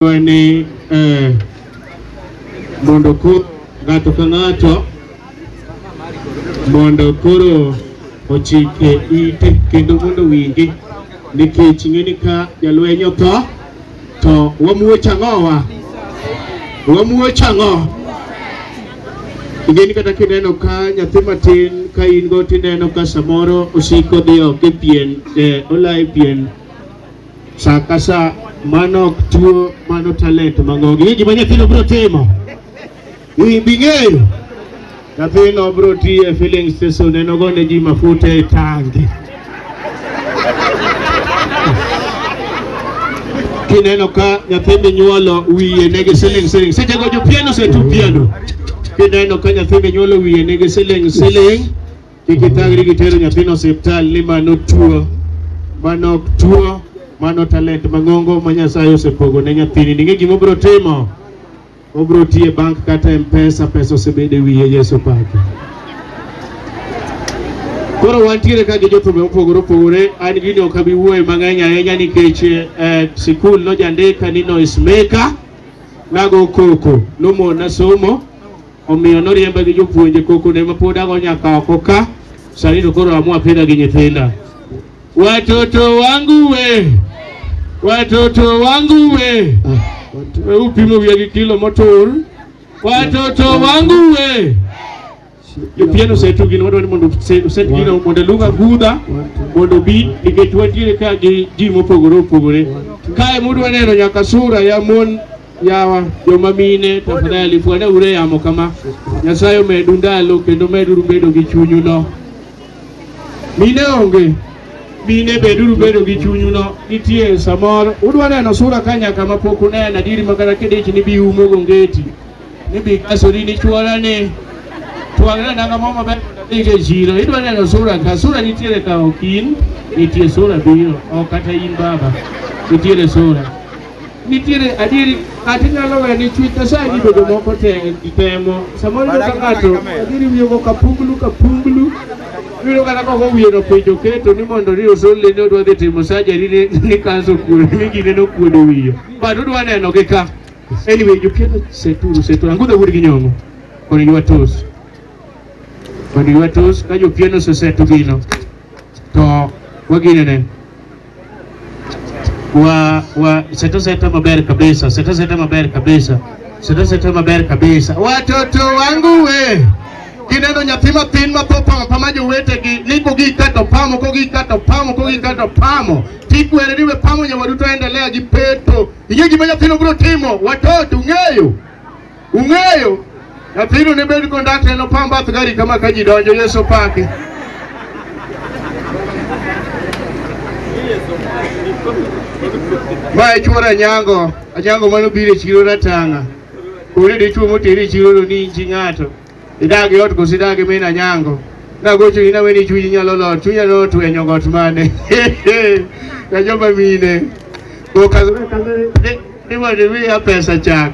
Dwa ni eh, mondo ko ng'ato ka ng'ato mondo koro ochike ite kendo mondo wingi nikech ng'eni ka jalweny otho to wamuoch ang'owa wamuoch ang'o ingeni kata kineno ka nyathi matin ka in go tineno ka samoro osiko dhi oko e pien eh, olaye pien Sa ka sa mano ok tuo, mano talent mangogi. Ni gima nyathino biro timo. Ni bing'eyo. Nyathino biro tiye filling station en ogone ji mafuta e tangi. Kineno ka nyathi minyuolo wiye nigi siling siling. Seche go jopiano osetu piano. Kineno ka nyathi minyuolo wiye nigi siling siling. Kik itangri gi tero nyathino osiptal ni mano tuo, mano ok tuo, mano talent mang'ongo ma Nyasaye osepogo ne nyathini. Ning'e gima obiro timo, obiro tiye bank kata mpesa, pesa osebedo e wiye Yesu pake. Koro wantiere ka gi jothumbe mopogore opogore, an gini ok abi wuoye mang'eny ahinya nikech eh, sikul nojandika ni noise maker, nago koko, nomona somo, Omiyo noriemba gi jopuonje kokone ma pod ago nyaka oko ka sani to koro amua pidha gi nyithinda. Watoto wangu we, watoto wangu we, we upimo wiya gi kilo motur. Watoto wangu we, jopien osetu gino wadwaro ni mondo use- uset gino mondo luong agudha mondo obi nikech wantiere ka gi ji mopogore opogore. Kae mudwa neno nyaka sura ya mon yawa joma mine tafadhali fwana ure yamo kama nyasaye omedu ndalo kendo meduru bedo gi chunyu no mine onge mine beduru bedo gi chunyu no nitie samoro udwa neno sura ka nyaka ma pok uneno adiri ma kata kidich ni bi umo gongeti ni bi kasori ni chuora ni twang'na nanga mo maber mondo adhi go e chiro idwa neno sura ka sura nitiere ka ok in nitie sura biro ok kata in baba nitiere sura nitiere adieri kata inyalo weyo ni chuny nyasaye ni bedo moko te temo samoro iyudo ka ng'ato adieri wiyogo kapunglu kapunglu iyudo kata koko wiye no piny oketo ni mondo ni osolle ni odwa dhi timo sajari ni ni kansa okuodo ni gine nokuodo wiye but odwa neno gi ka anyway jopieno seturu seturu angudho wuod gi nyong'o koni gi watos koni gi watos ka jopieno osesetu gino to waginene wa wa seta seta maber kabisa, seta seta maber kabisa, seta seta maber kabisa. Watoto wangu we kineno nyathi mathin ma tho pamo pama jowetegi ni kogi kato pamo kogi kato pamo kogi kato pamo tikwere ni we pamo nyawadu to endelea gi peto. Ing'e gima nyathino biro timo? Watoto ung'eyo? Ung'eyo nyathino ne bed kondakta en opam bath gari kama ka ji donjo Yesu opaki. Ma e chuora Anyango, Anyango mano biro e chiro ratanga. Kore dichuo moteri e chiro lo ni inchi ng'ato. Idagi ot kosi idagi mena Anyango. Nagocho ni nawe ni chuji nyalo lot, chunya no tuwe nyogot mane. Kajomba mine. Kokazore kazore, ni wadi miya pesa chak.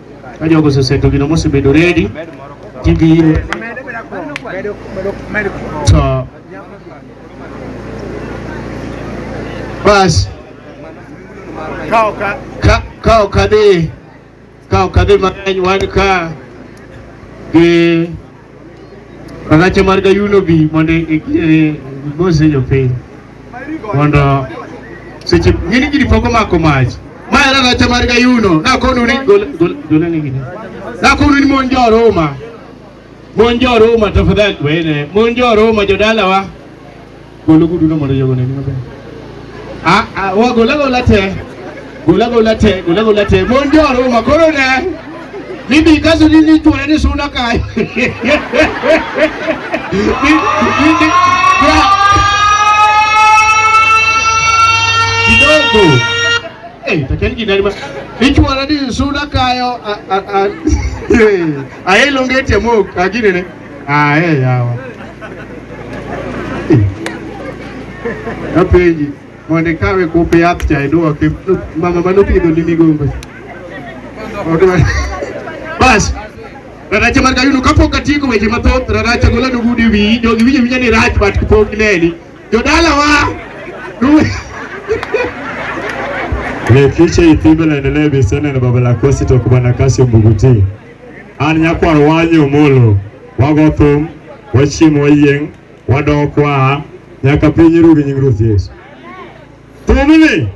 Ka jogo oseseto gino mosebedo redi, tibiro to bas ka ok adhi ka ok adhi mang'eny wan ka gi Rakache mar Gayuno bi mondo gimose e, e, jopiny mondo seche ng'ini gini pok omako mach ma en rakache mar Gayuno nakonu ni golenegini nakonu ni mon joruma mon joruma tafadhali wene mon joruma jodalawa Gol oguduno mondo jogo oneni maber. Ah, ah, wa gol agola te. Gol agola te, gol agola te. Mon jo Ruma koro ne. Mimi kaso ni ni tuore ni suna kai. Ni- ni- ni- bra- Kidogo. Eh, takeni kinani ma. Ni tuore ni suna kayo. Ah, ah, ah. Eh, Aelo ngete mok, agine ne. Ah, eh, yawa. Apenji, mondo ikawe kupe yath cha iduoke. Mama mano pidho ni migongo. Odwa- Bas. Raracha mar kayuno kapok atieko weche mathoth, Raracha gola nugudi wiyi, jogi winjo winja ni rach but kapok gineni. Jodalawa. nu- Mekiche ithimbe laendelee bisene na baba la kosi tokubana kasi umbuguti. An nyakwar wanyo molo, wago thum, wachiemo wayieng', wadok waa nyaka piny ru gi nying Ruoth Yesu. Thumni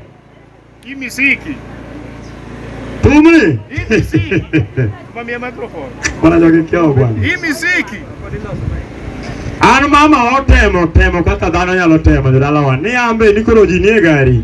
Hii miziki. thumni Hii miziki. Mamia microphone. mana jogi kyawo bwana. Hii miziki. An mama otemo temo kaka dhano nyalo temo jodalawa ni ambe ni koro ji nie gari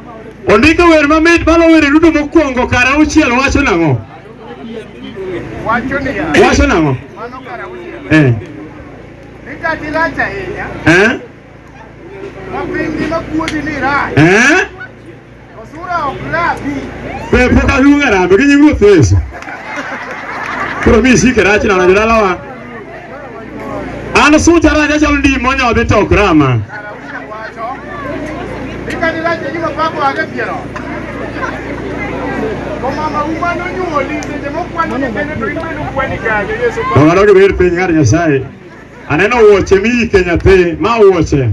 Ondiko wer mamit malo were duto mokwongo kar auchiel wacho nang'o? Wacho nang'o? Eh. Eh? Eh? Pe pok aluongo e rambe gi nying Ruoth Yesu. Koro mi isike rachna na jodalawa. An sucha raja chal ndi monyo dhi to grama. Ikani raja jino pako age piero. Komama umano nyuoli seche mokwano ne kene to imeno kwani kage Yesu. Ng'ato ok bir piny ng'ar Nyasaye. Aneno wuoche mi ike nyathi ma wuoche.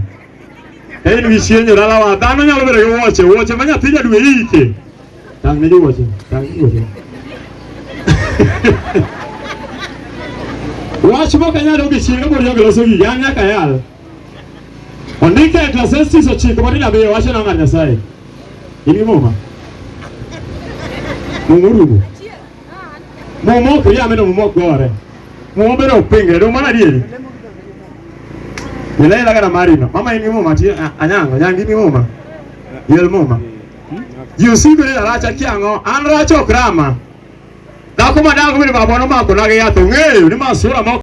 en wisienyo dalawa dhano nyalo bedo gi wuoche wuoche ma nyathi jadwe ike tang' ne gi wuoche tang' ne wuoche wach mok anyalo gi chieng' abor jogi loso gigi an nyaka yal ondike e Ecclesiastes ochiko matindo abiriyo wacho nang'ar Nyasaye in gi muma muma orumo Momo to yame no momo gore. Momo bero pingre do mana dieri. Yele la kana marino. Mama ini mama ti anyango nyangi ni mama. Yel mama. You see bere la racha kiango an racho krama. Dako madango bere babono mako lage yato ng'eyo ni masura mako.